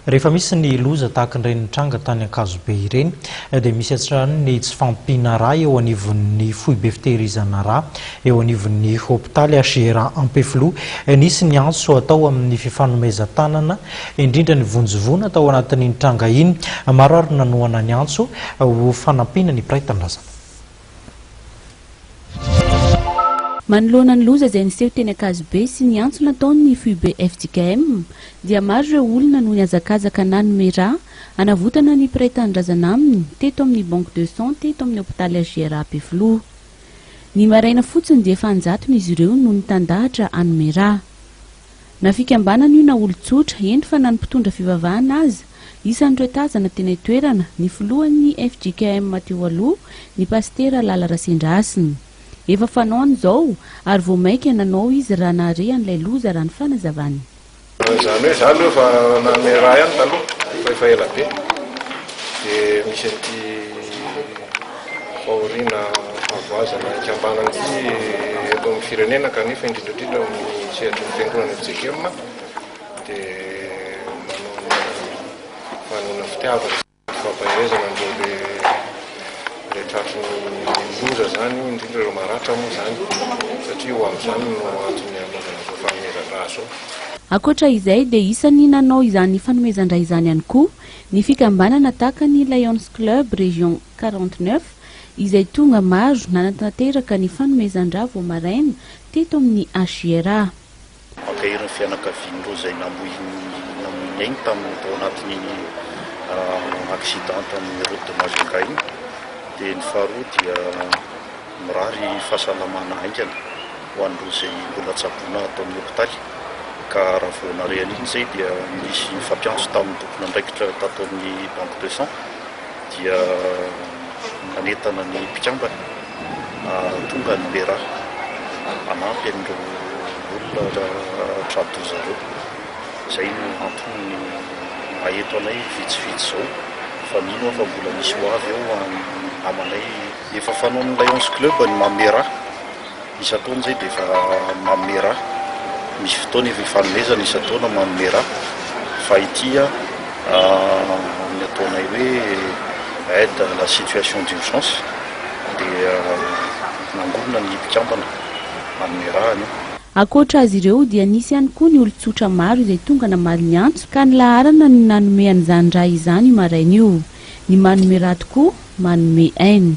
Rehefa misy ny loza tahaka ireny nitranga tany Ankazobe ireny dia misy hatrany ny tsy fahampiana rà eo anivon'ny foibe fitehirizana rà eo anivon'ny hopitaly HR Ampefiloha. Nisy ny antso atao amin'ny fifanomezan-tanana indrindra ny vonjivoana tao anatin'iny tranga iny. Maro ary nanohana ny antso ho fanampiana ny mpiray tanindrazana. Manoloana ny loza izay niseho teny Ankazobe sy ny antso nataon'ny foibe fjkm dia maro ireo olona no nihazakazaka nanome ra hanavotana ny mpiray tanindrazana aminy teto amin'ny Banque de sang teto amin'ny hopitaly HJR Ampefiloha. Ny maraina fotsiny dia efa an-jatony izy ireo no nitandahatra hanome ra. Na fikambanana io na olon-tsotra, eny fa na ny mpitondra fivavahana aza. Isan'ireo tazana tena itoerana, ny filohan'ny fjkm teo aloha, ny pasitera Lala Rasendrahasina. Efa fanaony izao, ary vao mainka nanao izy raha nahare an'ilay loza, raha ny fanazavany. Izany hoe izaho aloha efa nanome raha ihany taloha, fa efa ela be, dia misy an'ity. fahoriana havoazana haikam-bana ity eto amin'ny firenena kanefa indrindra indrindra amin'ny sehatry ny fiangonana ny JKM dia manona fitiavana fampaherezana an'ireo le tratry ny loza zany indrindra ireo maratra moa zany satria ho amin'izany no antony anaovana izao fanomezan-dra izao. Ankoatra izay dia isan'ny nanao izany fanomezan-dra izany ihany koa ny fikambanana tahaka ny Lions Club Région quarante neuf izay tonga maro nanatanteraka ny fanomezan-drà vao maraina teto amin'ny HJRA. Mankahery ny fianakavian'ireo izay namoy namoy ny ainy tamin'ny tao anatin'iny accident tamin'ny route de Majunga iny dia ny faharoa dia Mirary fahasalamana haingana ho an'ireo izay mbola tsaboina ato amin'ny hopitaly ka raha vao nare an'iny izay dia nisy nifampiantso tamin'ny tompon'andraikitra tato amin'ny Banque de Sang dia nanentana ny mpikambana hahatonga ny Mera hanampy an'ireo olona tra-doza ireo. Izay no antony ny maha eto anay vitsivitsy izao fa mino aho fa mbola misy ho avy eo amanay. Efa fanaon'ny Lions Club ny mamera. Isan-taona izay dia efa mamera. Misy fotoana efa ifanomezana isan-taona mamera. Fa ity amin'ny ataonay hoe aide à la situation d'urgence dia nangonina ny mpikambana hamera anio. Ankoatra azy ireo dia nisy ihany koa ny olon-tsotra maro izay tonga namaly ny antso ka ny laharana no nanome an'izany ra izany io maraina io. Ny manome raha tokoa manome ainy.